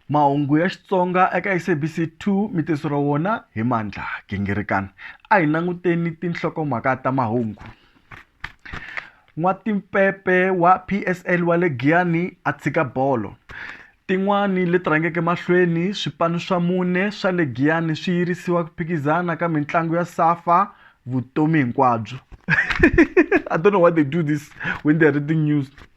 Mahungu ya Xitsonga eka SABC 2 mi tiseriwa wona hi Mandla Gingirikana. A hi languteni tinhlokomhaka ta mahungu. N'watimpepe wa PSL wa le Giyani a tshika bolo. Tin'wani leti rhangeke mahlweni, swipanu swa mune swa le Giyani swi yirisiwa ku phikizana ka mitlangu ya SAFA vutomi hinkwabyo. I don't know why they do this when they are reading news.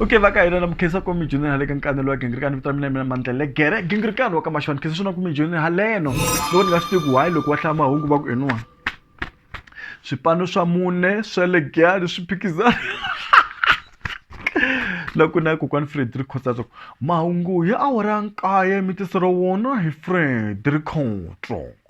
okay va ka hina na mukhensa komi junior hale ka nkanelo wa gingirikani vito ra mina mina mandlele gere gingirikani wa ka maxoni khensa swona komi junior haleno loko ni nga swi tivi why loko wa hlaya mahungu va ku eniwa swipano swa mune swa le giyani swi phikizana loko na kokwani frederick khotsatso mahungu hi awara ya nkaye mi tisero wona hi frederick khotso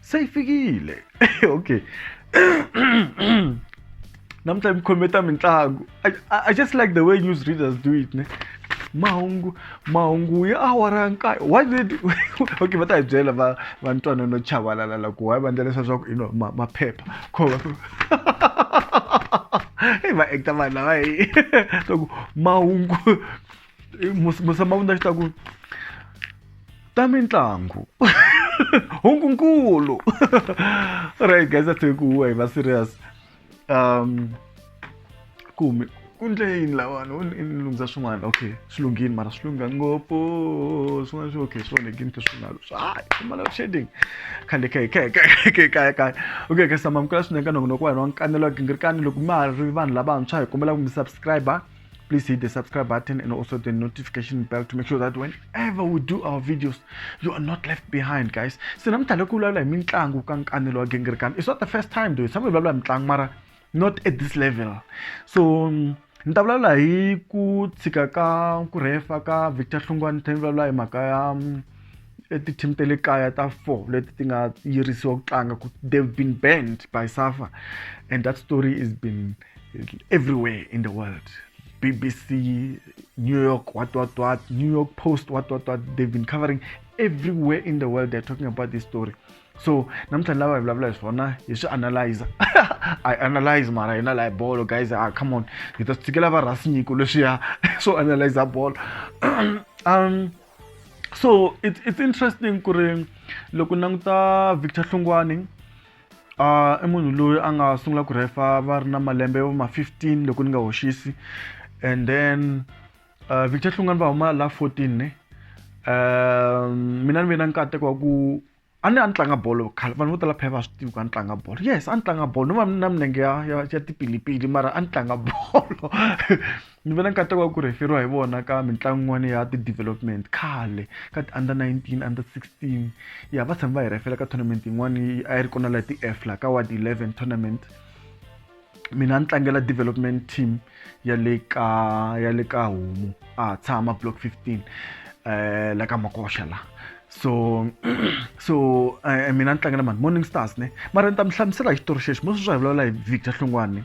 seyifikile okay namuntlha mi khometa mitlangu I, I just like the way news readers do it ne mahungu mahungu ya awara ya nkayo why did okay va ta hi byela va va ntwana no chavalala loko why va endla leswaku swa ku you know ma- maphepha khova va actor vanhu lava hi loko mahungu musama vundza xi ta ku ta mitlangu hunkunkulu right guys a tshiki huwa hi va serious um kumi ku ndle yini lawani u lunghisa swin'wana okay swi lunghini mara swi lungha ngopfu swin'wana swi okay swi onhekini ke swinalo swi hayi swimala shading khale khe khe khe khe kaya kaya okay ke samamukela swinene ka nongonoko wa hina wa nkanelo wa gingirikani loko ma ha ri vanhu lavantshwa hi kombela ku mi subscriber please hit the subscribe button and also the notification bell to make sure that whenever we do our videos you are not left behind guys se namhlanje kulalula hi mitlangu ka nkanelo wa gingirikani it's not the first time though some vulavula hi mitlangu mara not at this level so ni ta vulavula hi ku tshika ka ku rhefa ka victor hlungwani ni tlhela ni vulavula hi mhaka ya mm, ti-team ta le kaya ta four leti ti nga yirisiwa ku tlanga ku they've been banned by safa and that story is been everywhere in the world. BBC, New York, what, what, what, New York Post, what, what, what. They've been covering everywhere in the world. They're talking about this story. So, namhlanje lava evulavula swona hi swi analyze i analyze mara hina laha bolo guys ah, come on hi ta swi tshikela va rhasinyiko leswiya swo analyza bolo um so it's, it's interesting ku ri loko languta victor hlungwani uh, i munhu loyi a nga sungula ku rhefa va ri na malembe yo ma 15 loko ni nga hoxisi and then uh, victor hlungani va huma la 14 ne uh, mina ni ve na nkateko wa ku a ni a ni tlanga bolo khale vanhu vo tala phela va swi tivi ku a ni tlanga bolo yes a ni tlanga bolo no va na milenge ya ya ya tipilipili mara a ni tlanga bolo Ni ve na nkateko wa ku rheferiwa hi vona ka mitlangu yin'wana ya ti-development khale ka ti-under nineteen, under sixteen. Ya va tshame va hi rhefela ka tournament yin'wani a yi ri kona laha ti-F laha ka ward eleven tournament. Mina a ni tlangela development team ya le ka ya le ka homu a ha tshama block fifteen la ka makoxa laha. So so mina ni tlangela mani Morning Stars ne mara ni ta mi hlamusela hi xitori xexo mo sweswi a hi vulavula hi Victor Hlongwane.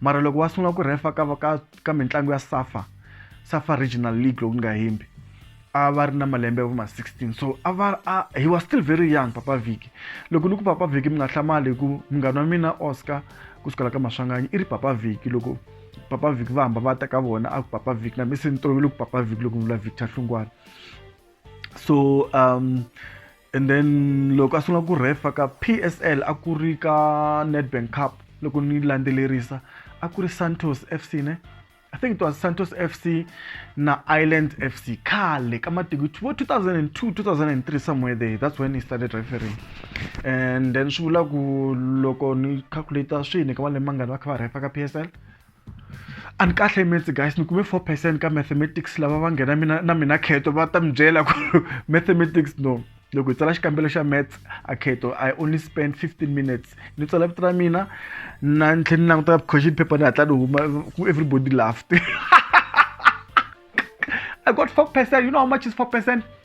mara loko wa sungula ku rhefa ka ka ka mitlangu ya safa safa regional league loko ni nga hembi a va ri na malembe ya vo ma 16 so a va a he was still very young papa viki loko ni ku papa viki mi nga hlamali hi ku munghana wa mina oscar ku sukela ka maswanganyi i ri papa viki loko papa viki va hamba va ta ka vona a ku papa viki na mi se ni tolovele ku papa viki loko ni vula victor hlungwana so um and then loko a sungula ku refa ka psl a ku ri ka nedbank cup loko ni landzelerisa a ku ri santos fc ne i think it was santos fc na island fc khale ka matiko vo 2002 2003 somewhere there that's when he started referring and then swi vula ku loko ni calculata swini ka malembe mangani va kha va refa ka psl a ni kahle metse guys ni kume four percent ka mathematics lava va nghena mina na mina kheto va ta mi byela ku mathematics no loko hi tsala xikambelo xa maths a kheto i only spend 15 minutes ni tsala vito ra mina na ni tlhela ni languta question paper ni hatla ni huma ku everybody laughed i got four percent you know how much is four percent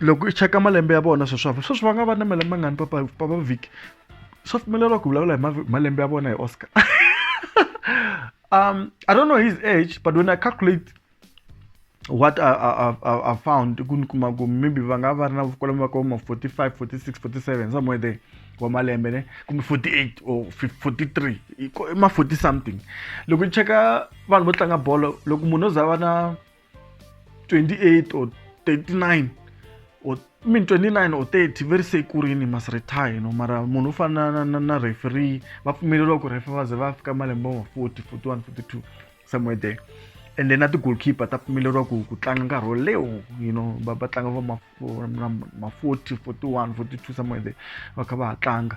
loko i cheka malembe ya vona sweswi sweswi va nga va na malembe mangani papa papa vhiki swa pfumeleriwa ku vulavula hi malembe ya vona hi oscar um i don't know his age but when i calculate what I, I, I, I found ku ni kuma ku maybe va nga va ri na kwalomu va koma 45 46 47 somewhere there wa malembe ne kumbe 48 or 43 i ma 40 something loko ni cheka vanhu vo tlanga bolo loko munhu o za va na 28 or 39 or I mean 29 or 30 very say ku rini must retire no mara munhu u fana na, na, na referee va pfumeleriwa ku refer va ze va fika malembe ma 40 41 42 somewhere there and then na ti-goalkeeper ta pfumeleriwa ku ku tlanga nkarhi wo lewo you know va va tlanga va ma ma 40 41 42 somewhere there va kha va ha tlanga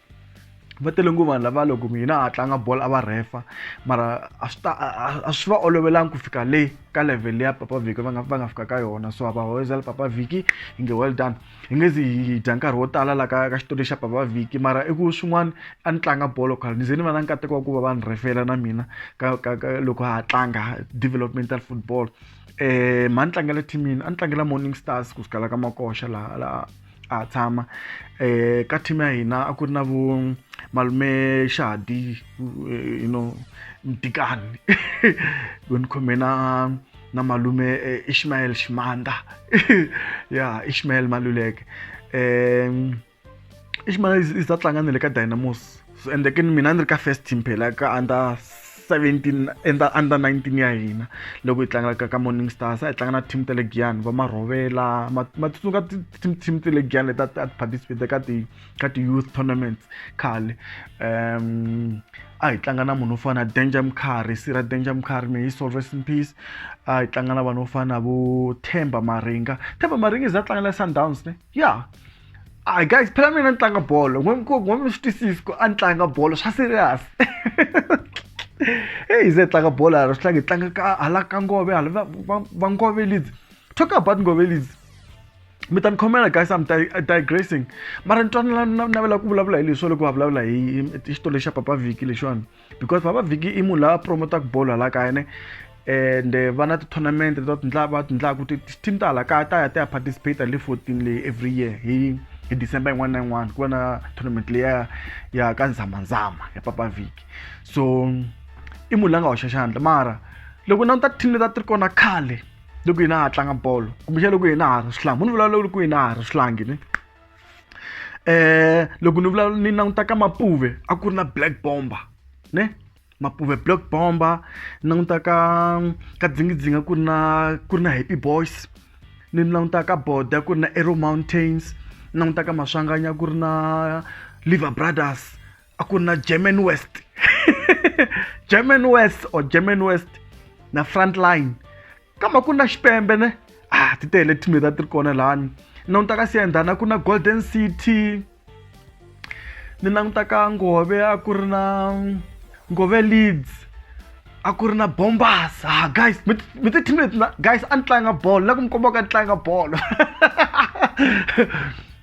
va tele ngopfu vanhu lava loko mina ha tlanga bolo a va rhefa mara a swi ta a swi va olovelanga ku fika le ka level ya papa vhiki va nga va nga fika ka yona so hava hoyizela papa vhiki hi nge well done hi nge zi hi dya nkarhi wo tala la ka ka xitori xa papa vhiki mara i ku swin'wana a ni tlanga bolo khale ni ze ni va na nkateko wa ku va va ni rhefela na mina ka ka ka loko ha tlanga developmental football um mhani tlangela team yini a ni tlangela morning stars ku sukela ka makoxa laha laha a ha tshama um ka team ya hina a ku ri na vo malume xadi you know mdikani ku ni khome na na malume eh, ishmael ximanda ya ishmael maluleke um ishmael i ta tlanga na le ka dynamos ende ke mina ni ri ka first team phela ka under 17 enda under 19 ya hina loko hi tlangelaka ka morning stars a hi tlanga na team ta le giyani va marhovela matsutsuka team team ta le giyani leti a ti participate ka ti ka ti youth tournaments khale um a hi tlanga na munhu wo fana na danger mkhari sira danger mkhari may he soul rest in peace a hi tlanga na vanhu vo fana na vo themba maringa themba maringa i za tlangela sundowns ne ya yeah. Hi guys, phela mina ni tlanga bolo. N'wami swi twisisi ku a ni tlanga bolo swa serious. Hey, ze tlanga bolo hala swi tlanga hi tlanga ka hala ka Ngove hala va va Ngove Leeds. Talk about Ngove Leeds. mi ta ni khomela guys am digressing mara ni twa ni navela ku vulavula hi leswo loko va vulavula hi xitori lexa papa vhiki lexiwani because baba vhiki i munhu la promotaka bolo hala kaya ne and eh, va na ti-tournament to tindla va tindlaku ti-team ta hala kaya ta ya ta ya participate le fourteen leyi every year hi hi december yin'wana na yin'wana ku va na tournament leya ya ka nzhamanzhama ya papa vhiki so i munhu la nga hoxa xandla mara loko na ta team leta ti ri kona khale loko hina ha tlanga bolo kumbexana loko hina ha ri swihlangi munhu vulavula loko hina ha ri swihlangi ne eh loko ni vulavula ni languta ka mapuve a ku ri na black bomber ne mapuve black bomber ni languta ka ka dzingidzinga ku ri na ku ri na happy boys ni languta ka boda ku ri na arrow mountains ni languta ka maswanganya ku ri na liver brothers a ku na german west german west or german west na front line kambe ku na xipembe ne ah ti tele team ta ti ri kona lani ni languta ka siendana ku na golden city ni languta ka ngove a ku ri na ngove leads a ku ri na bombas ah guys mi ti team leti guys a ni tlanga bolo la ku mi kombaka ni tlanga bolo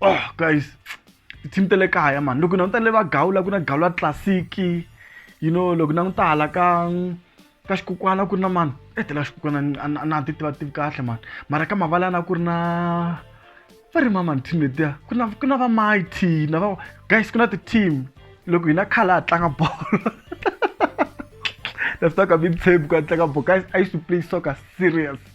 oh guys team ta le kaya mani loko na n'wi ta le va gawula ku na gawula classic you know loko na n'wi ta hala ka ka xikukwana ku ri na mani etela eh, xikukwana a na ti tiva tivi kahle mani mara ka mavala na ku ri na va ri mamani team letiya ku na ku na va mighty na va guys ku na ti-team loko hina khale a tlanga bolo that's not a big table ku a tlanga bolo guys i used to play soccer serious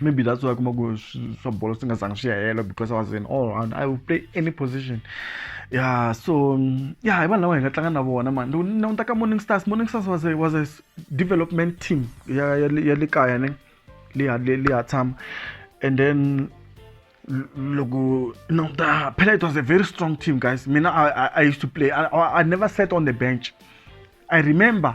maybe that's why kuma ku swa bolo swi nga zangi swi ya hela because i was in all round i will play any position yeah so um, yeah hi vanhu lava hi nga tlanga na vona mani loko ni languta ka morning stars morning stars was a, was a development team ya ya le- ya le kaya ne leya le- leya tshama and then l- loko no the phela it was a very strong team guys mina i, I, I used to play I, I, I never sat on the bench i remember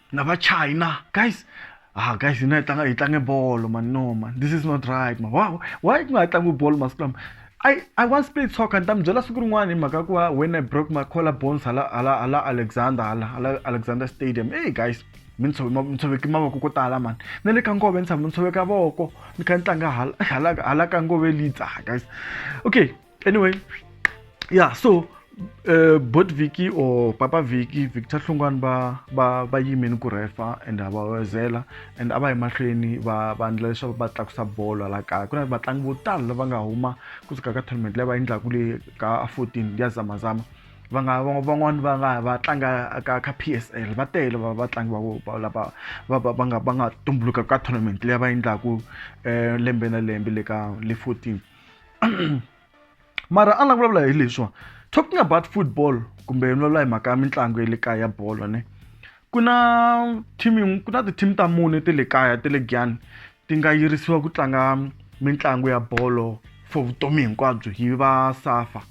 na va china guys ah guys hina hi tlanga hi tlange bolo man no man this is not right man wow why ku nga tlangi bolo masiku lama I, I once played soccer ni ta mi byela siku rin'wana hi mhaka ku va when I broke my collar bones hala hala hala Alexander hala hala Alexander Stadium hey guys mi ni tshoveki mi tshoveki mavoko ko tala mani na le ka ngove ni tshama ni tshoveka voko ni kha ni tlanga hala hala hala ka ngove lidza guys okay anyway yeah so uh, eh, bot viki or papa viki victor hlungwani va va va yimini ku rhefa and va wezela and a va emahlweni va va endla leswaku va tlakusa bolo la kaya ku na vatlangi vo tala lava nga huma kusuka ka tournament leyi va endlaka le ka 14 ya zamazama va nga van'wani va nga va tlanga ka ka p s l va tele va vatlangi va lava va va nga va nga tumbuluka ka tournament leyi va endlaku um lembe na lembe le ka le fourteen mara a ni la vulavula hi leswiwa talking about football kumbe ni vulavula hi mhaka ya mitlangu ya le kaya ya bolo ne ku na team ku na ti-team ta mune te le kaya te le giyani ti nga yirisiwa ku tlanga mitlangu ya bolo for vutomi hinkwabyo hi va safa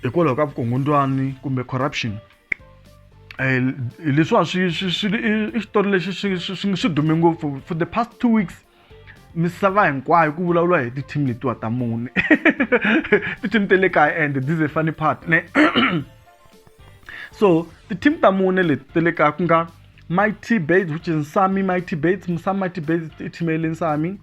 hikwalaho ka vukungundzwani kumbe corruption eh, leswiwa swi swi swi i xitori lexi swi swi swi dume ngopfu for the past two weeks misava hinkwayo ku vulavuriwa hi ti-team letiwa ta mune ti-team te le kaya and this is a funny part ne so ti-team ta mune leti te le kaya ku nga mighty bates which is nsami mighty bates nsami mighty bates i team ya le nsami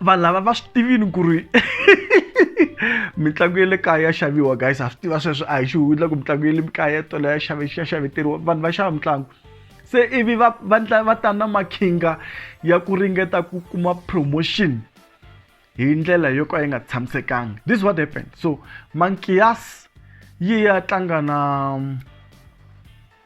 vanhu lava va swi tivini ku ri mitlangu ya le kaya ya xaviwa guys ha swi tiva sweswo a hi xi hundla ku mitlangu ya le kaya tolo ya xave ya xaveteriwa vanhu va xava mitlangu se ivi va va va ta na makhinga ya ku ringeta ku kuma promotion hi ndlela yo ka yi nga tshamisekanga this is what happened so mankias yi ya tlanga na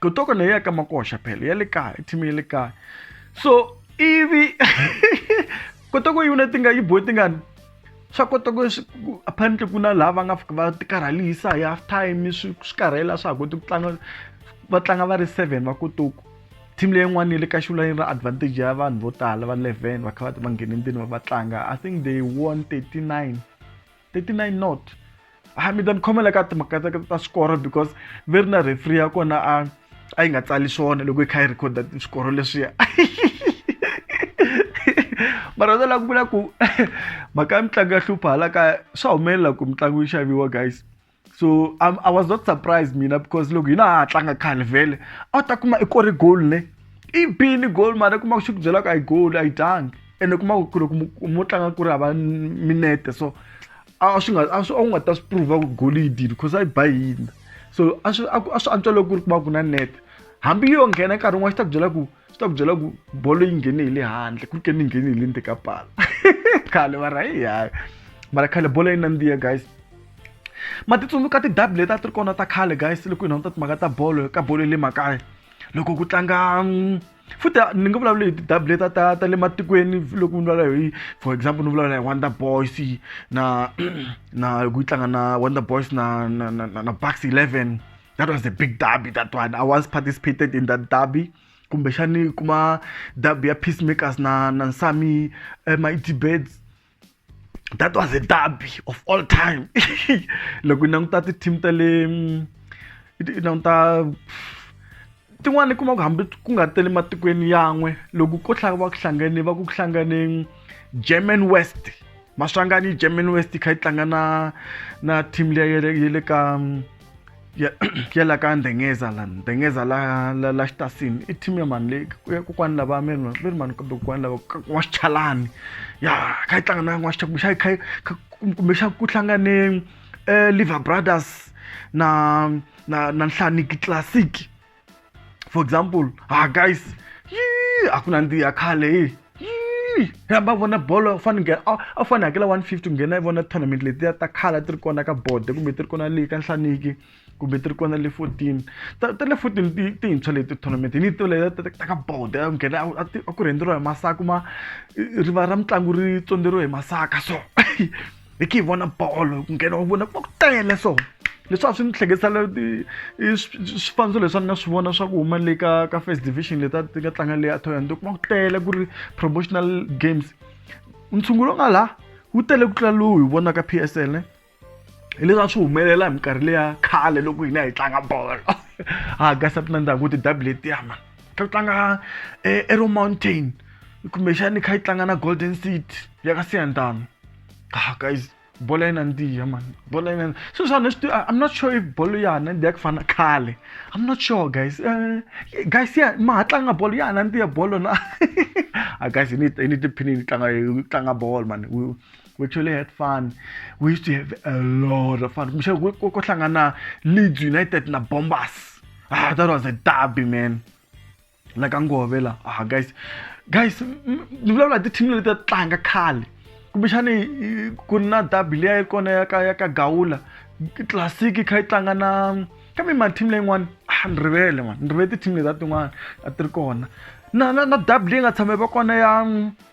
kotoko leyi ya ka makoxa phela ya le kaya i team ya le kaya so ivi kotoko yi vona ti nga yi bohe tingani swa kota ku apparently ku na laha va nga fika va ti karhalisa hi half time swi swi karhela swa ha koti ku tlanga va tlanga va ri seven va kotoko team leyin'wana yi le ka xivula yi ri advantage ya vanhu vo tala va eleven va kha va va nghene ndzeni va va tlanga i think they won thirty nine 39 not ha mi ta ni khomela ka timhaka ta ta swikoro because ve ri na refree ya kona a a yi nga tsali swona loko yi kha yi rhekhoda swikoro leswiya mara ndza lava ku vula ku mhaka ya mitlangu ya hlupha hala kaya swa humelela ku mitlangu yi xaviwa guys so I'm, i was not surprised mina because loko hina ha tlanga khale vhele a ta kuma i kore goal ne i bini goal mara kuma xi ku byela ku a yi goal a yi dangi ene kuma ku loko mo tlanga ku ri hava minete so a swi nga a swi a wu nga ta swi prova ku goal yi dini because a yi ba hina so a swi a swi antswa loko ku ri kuma ku na nete hambi yo nghena nkarhi wun'wana xi ta ku byela ku swi ta ku byela ku bolo yi nghene hi le handle ku ke ni nghene hi le ndzeni ka pala khale mara hi hayi mara khale bolo yi nandziha guys ma ti tsundzuka tidabi leti a ti ri kona ta khale guys loko hi nonta timhaka ta bolo ka bolo ya le makaya loko ku tlanga mm, futhi ni nga vulavula hi tidabi leti ta ta le matikweni loko ni vulavula hi for example ni vulavula hi wonder boys na na ku yi tlanga na wonder boys na na na, na bucks 11 that was a big derby that one i once participated in that derby kumbexani kuma derby ya peacemakers na na nsami eh, mitbeds that was a derby of all time loko yi languta ti-team ta le yi languta tin'wana i kuma ku hambi ku nga tele matikweni yan'we loko ko va ku hlangane va ku ku hlangane german west maswangani german west yi kha yi tlanga na na team leyi ya le ka ya ya la ka ndengeza la ndengeza la la, la xitasini i team ya mani leyi ku ya kokwani lava mi ri mi ri mani kumbe kokwani lava ka- wa xichalani ya kha yi tlanga na n'wa xicha kumbe xa kha yi- kha- kumbe xa ku hlangane um liver brothers na na na nhlaniki classic for example ah guys yii a ku nandzihi ya khale hi yii rhamba vona bolo u fanele nghena a fanele hakela one fifty ku nghena yi vona tournament letiya ta khala ti ri kona ka bode kumbe ti ri kona leyi ka nhlaniki kumbe ti ri kona le fourteen ta ta le fourteen ti tintshwa leti tournament ni ti leta ta ka bode a nghena a ti a ku rhendzeriwa hi masaka ma rivala ra mitlangu ri tsondzeriwe hi masaka so hi khe hi vona bolo ku nghena u vona va ku tele so leswi a swi ni hleketisa swifaniso leswi a ni nga swi vona swa ku huma le ka ka first division leti a ti nga tlanga leyi a toyani to kuma ku tele ku ri promotional games ntshungu lowu nga laha wu tele ku tlula lowu hi vonaka p s l hi leswi a swi humelela hi minkarhi leya khale loko hina hi tlanga bolo ha gasa ti nandzaka ku ti dabu letiyama ka tlanga earrow eh, mountain kumbexani kha yi tlanga na golden city ya ka siyandama ah guys bolo yina ndiya man bolo yina swilo swa leswi i'm not sure if bolo ya hana ndiya ku fana khale i'm not sure guys uh, guys ya ma ha tlanga bolo ya hana ndiya bolo na a ah, guys ni ni tiphini ni tlanga tlanga bolo man we actually had fun we used to have a lot of fun kohlangana leeds united na bombers ah that was a derby man like angove la ah guys guys ni vulavula hi ti-team leti ta tlanga khale kumbexani ku ri na derby leyi yi kona ya ka ya ka gawula classic yi kha yi tlanga na kambe ma-team leyin'wana ah ni rivele n'wana ni rivele ti-team leti ta tin'wana a ti ri kona na na na derby leyi nga tshama va kona ya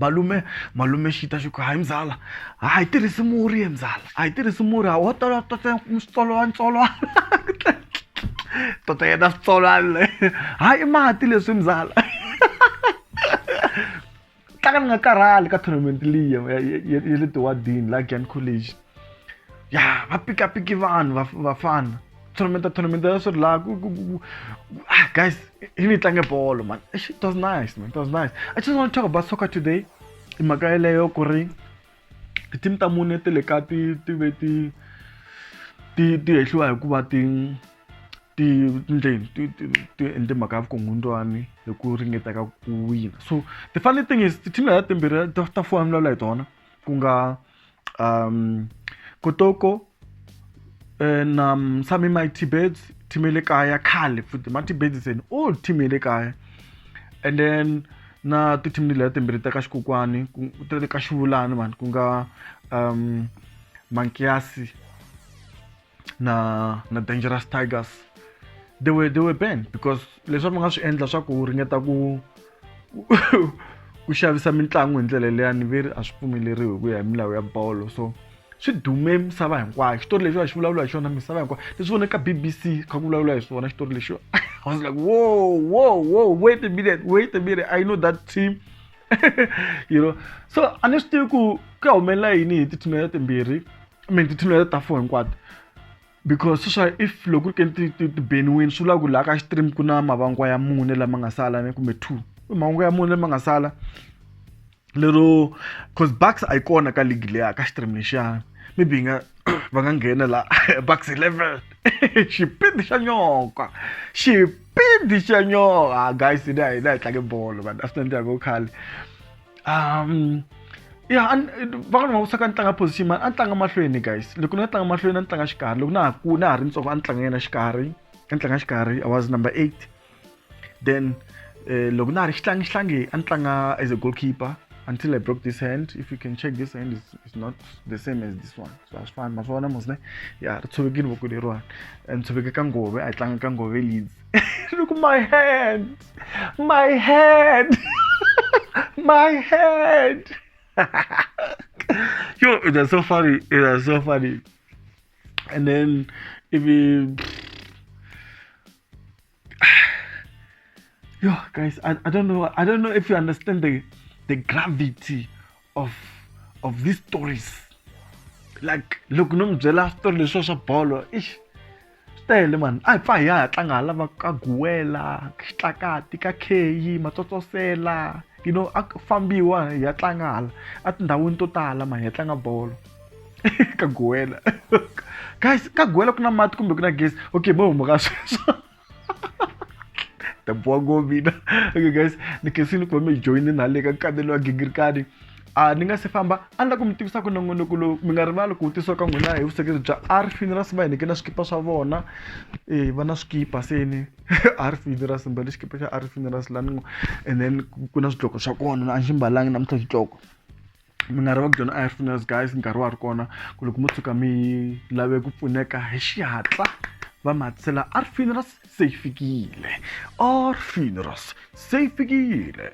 malume malume xi ta xi ku hayi mzala a hi tirhisi murhi ye mzala a hi tirhisi murhi a wo tola tota switsolwanitsolwana tota yena switsolwana le hayi i mati leswi mzala tlanga ni nga karhali ka tournament liya ya le tiwadini la Glen College. ya va pikapiki vanhu vafana va tournamenta tournamenta ya swi ri laha ku ku ku ah guys hi ni tlange bolo man it was nice man it was nice i just want to talk about soccer today i mhaka yeleyo ku ri ti-team ta mune ti le ka ti ti ve ti ti ti hehliwa hikuva ti ti njheni ti ti ti endle mhaka ya vukungundzwani hi ku ringeta ka ku wina so the funny thing is ti-team leti timbirhi ta ta fuwa milawula hi tona ku nga um kotoko and um some in my tibets team le kaya khale futhi ma tibets and all team le kaya and then na ti team leti timbirhi ta ka xikokwani ta le ka xivulani mani ku nga um mankiasi na na dangerous tigers they were they were banned because leswi va nga swi endla swa ku ringeta ku ku xavisa mitlangu hi ndlela leyani ve ri a swi pfumeleriwi hi ku ya hi milawu ya bolo so swi dume misava hinkwayo xitori lexi va xi vulavula hi xona misava hinkwayo leswi vonaka bbc kha ku vulavula hi swona xitori lexi i was like whoa whoa whoa wait a minute wait a minute i know that team you know so a ni swi tivi ku ku ya humelela yini hi tithunela timbirhi i mean tithunela ta fo hinkwato because swa if loko ri ke ti beniwini swi vula ku laha ka stream ku na mavangwa ya mune lama nga sala ni kumbe two i mahungu ya mune lama nga sala lero cause bucks a yi kona ka league leya ka stream lexiyana maybe yi nga va nga nghena la bucks 11 xipidi xa nyoka xipidi xa nyoka ah, guys ni a hi na hi tlange bolo vanhu a swi nandziha ko khale um ya van'wana va wisaka ni tlanga position mani a ni tlanga mahlweni guys loko ni nga tlanga mahlweni a ni tlanga xikarhi loko na ha ku na ha ri ntsongo a ni tlanga yena xikarhi a ni tlanga xikarhi i was number eight then uh, loko na ha ri xitlangi xitlangi a ni tlanga as a goalkeeper until i broke this hand if you can check this hand is, is not the same as this one so a swi fani ma swi vona mos ne ya ri tshovekile voko leriwani and tshoveke ka ngove a yi tlanga ka ngove leads look my hand my hand my hand yo it was so funny it was so funny and then if you Yo, guys, I, I don't know. I don't know if you understand the the gravity of of these stories. Like, look, no mbyela story leswi swa bolo. Ish. tele mani a hi pfa hi ya ha tlanga hala va ka guwela xitlakati ka kheyi matsotsosela you know a fambiwa hi ya tlanga hala etindhawini to tala mani hi ya tlanga bolo ka goela guys ka goela ku na mati kumbe ku na gezi okay mo huma ka sweswo taboha ngo mina okay guys ni khensini ku va mi joyine na le ka kanelo wa gingirikani a ni nga se famba a ni la ku mi tivisa ku nongonoko lowu mi nga rivali ku vutisiwa ka n'wina hi vusekeri bya r funerals va hi nike na swikipa swa vona e va na swikipa seni r funerals mbale xikipa xa r funerals lani and then ku na swidloko swa kona a ni xi mbalangi namuntlha xidloko mina ri va ku dyona a hi pfuna as guys nkarhi wa ri kona ku loko mo tshuka mi lave ku pfuneka hi xihatla va matsela a ri fini ra se yi fikile or fini ra se yi fikile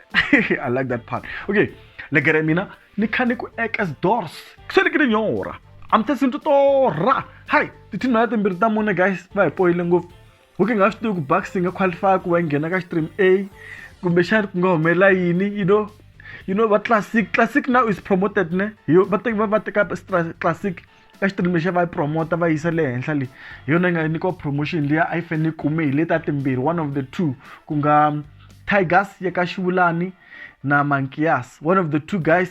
i like that part okay legere mina ni kha ni ku ekas doors se ni ke ni nyora amthe sinto tora hayi tithini mhana timbirhi ta mune guys va hi poyile ngopfu u nge nga swi tivi ku bucks yi nga qualify ku va yi nghena ka stream a kumbexani ku nga humelela yini you know you know va classic classic now is promoted ne hi yo va teka va teka classic ka xitream lexa va yi promota va yisa le henhla leyi hi yona yi nga nyikiwa promotion leyi a yi fanele yi kume hi le ta timbirhi one of the two ku nga tigers ya ka xivulani na mankias one of the two guys